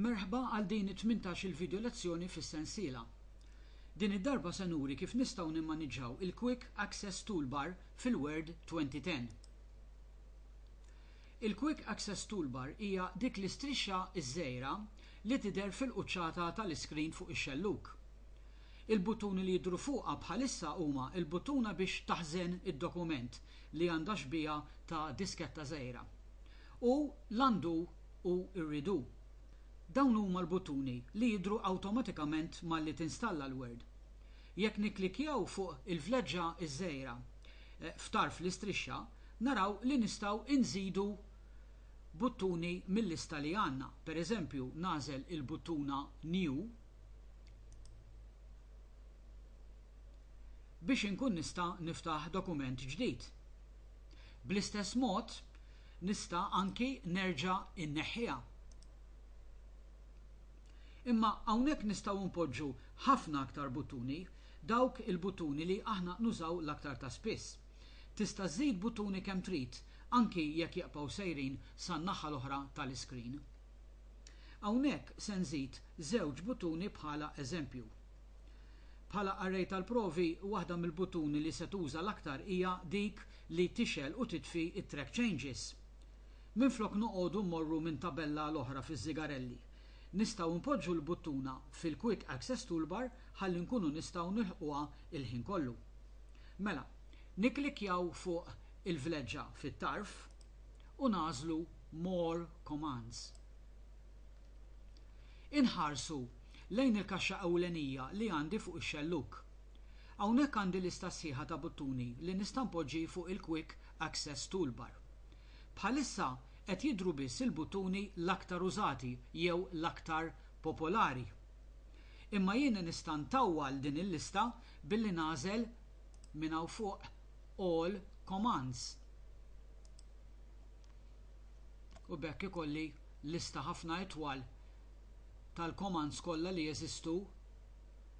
Merħba għal din it-tmintax il video lezzjoni fis-sensiela. Din id-darba se nuri kif nistgħu nimmaniġġaw il-Quick Access Toolbar fil-Word 2010. Il-Quick Access Toolbar hija dik l-istrixxa ż-żgħira li tidher fil-quċċata tal-iskrin fuq ix-xellug. Il-buttuni li jidhru fuqha bħalissa huma l-buttuna biex taħżen id-dokument li għandha xbieha ta' disketta żgħira. u l-għandu u rridu. Dawn huma l-buttuni li jidhru awtomatikament malli tinstalla l-Word. Jekk nikklikkjaw fuq il-vleġġa ż-żgħira f'tarf l-istrixxa, naraw li nistgħu nżidu buttuni mil-lista li għandna, pereżempju nagħżel il-buttuna New biex inkun nista' niftaħ dokument ġdid. Bl-istess mod, nista' anki nerġa' inneħħiha. Imma hawnhekk nistgħu npoġġu ħafna aktar buttuni, dawk il-buttuni li aħna nużaw l-aktar ta' spiss. Tista' żżid buttuni kemm trid, anki jekk jaqbgħu sejrin san-naħa l-oħra tal-iskrin. Hawnhekk se nżid żewġ buttuni bħala eżempju. Bħala array tal-provi, waħda mill-buttuni li se tuża l-aktar hija dik li tixgħel u titfi t-track changes. Minflok noqogħdu mmorru minn tabella għal oħra fiż-żigarelli, nistgħu npoġġu l-buttuna fil-Quick Access Toolbar ħalli nkunu nistgħu nilħquha l-ħin kollu. Mela, nikklikkjaw fuq il-vleġġa fit-tarf u nagħżlu More Commands. Inħarsu lejn il-kaxxa ewlenija li għandi fuq ix-xellug. Hawnhekk għandi lista sħiħa ta' buttuni li nista' npoġġi fuq il-Quick Access Toolbar. Bħalissa qed jidhru biss il-buttuni l-aktar użati jew l-aktar popolari. Imma jien nista' ntawwal din il-lista billi nagħżel minn hawn fuq All Commands. u b'hekk ikolli lista ħafna itwal tal-commands kollha li jeżistu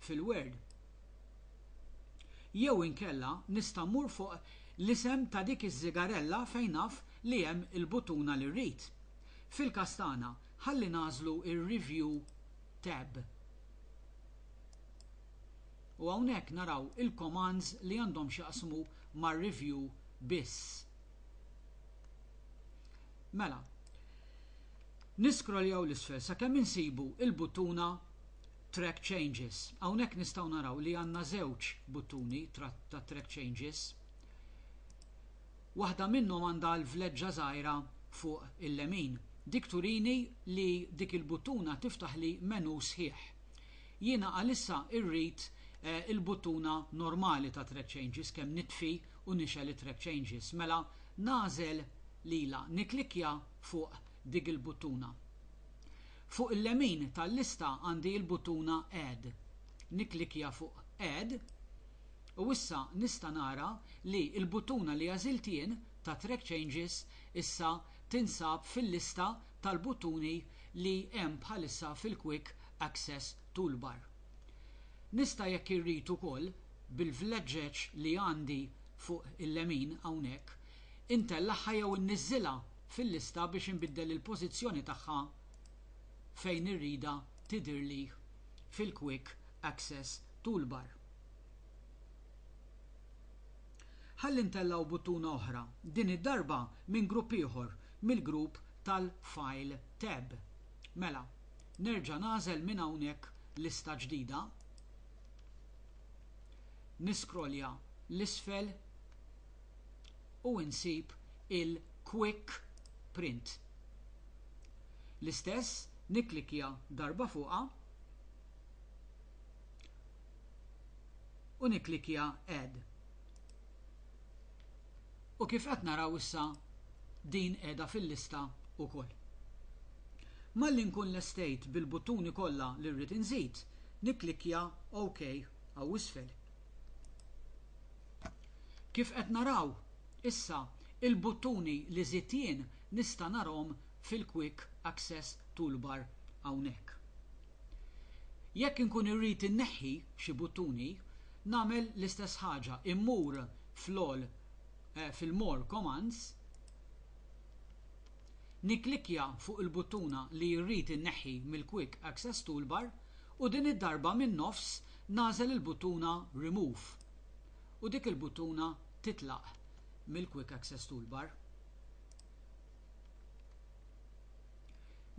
fil-word. Jew inkella nista' mmur fuq l-isem ta' dik iż-żigarella fejn naf li hemm il-buttuna li rrid. Fil-każ tagħna, ħalli nagħżlu r-Review tab. U hawnhekk naraw il-commands li għandhom x'jaqsmu mar-review biss. Mela, niskroljaw l-isfel sakemm insibu il-buttuna Track Changes. Hawnhekk nistgħu naraw li għandna żewġ buttuni ta' Track Changes. Waħda minnhom għandha l-vleġġa żgħira fuq il-lemin. Dik turini li dik il-buttuna tiftaħ li menu sħiħ. Jiena għalissa irrid eh, il-buttuna normali ta' track changes kemm nitfi u nixgħel it-track changes mela nagħżel lilha nikklikkja fuq dik il-buttuna. Fuq il-lemin tal-lista għandi l-buttuna add. Nikklikkja fuq add u issa nista' nara li l-buttuna li għażilt jien ta' track changes issa tinsab fil-lista tal-buttuni li hemm bħalissa fil-quick access toolbar. Nista' jekk irrid ukoll bil-vleġġeġ li għandi fuq il-lemin hawnhekk, intellagħha jew inniżżilha fil-lista biex inbiddel il-pożizzjoni tagħha fejn irridha tidhirli fil-Quick Access Toolbar. Ħalli ntellgħu buttuna oħra, din id-darba minn grupp ieħor, mill-grupp tal-File tab. Mela, nerġa' nagħżel minn hawnhekk lista ġdida. Niscrollja 'l isfel u insib il-Quick Print. L-istess nikklikkja darba fuqha u nikklikkja Add. u kif qed naraw issa din qiegħda fil-lista wkoll. Malli nkun lestejt bil-buttuni kollha li rrid inżid, nikklikkja OK hawn isfel. Kif qed naraw issa il-buttuni li żidt jien nista' narahom fil-Quick Access Toolbar hawnhekk. Jekk inkun irrid inneħħi xi buttuni, nagħmel l-istess ħaġa, immur fl-all fil-More Commands, nikklikkja fuq il-buttuna li rrid inneħħi mill-Quick Access Toolbar u din id-darba min-nofs nagħżel il-buttuna Remove u dik il-buttuna titlaq mill-Quick Access Toolbar.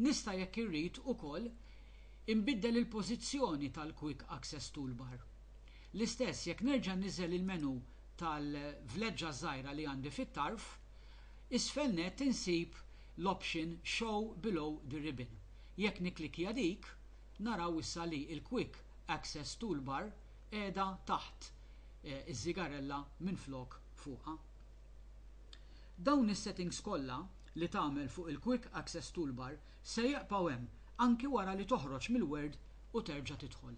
Nista' jekk irrid ukoll inbiddel il-pożizzjoni tal-Quick Access Toolbar. L-istess jekk nerġa' nniżżel il-menu tal-vleġġa żgħira li għandi fit-tarf, isfel nett insib l-option Show Below the Ribbon. Jekk nikklikkja dik, naraw issa li l-Quick Access Toolbar qiegħda taħt iż-żigarella minflok fuqha. Dawn is-settings kollha li tagħmel fuq il-Quick Access Toolbar se jibqgħu hemm anki wara li toħroġ mill-Word u terġa' tidħol.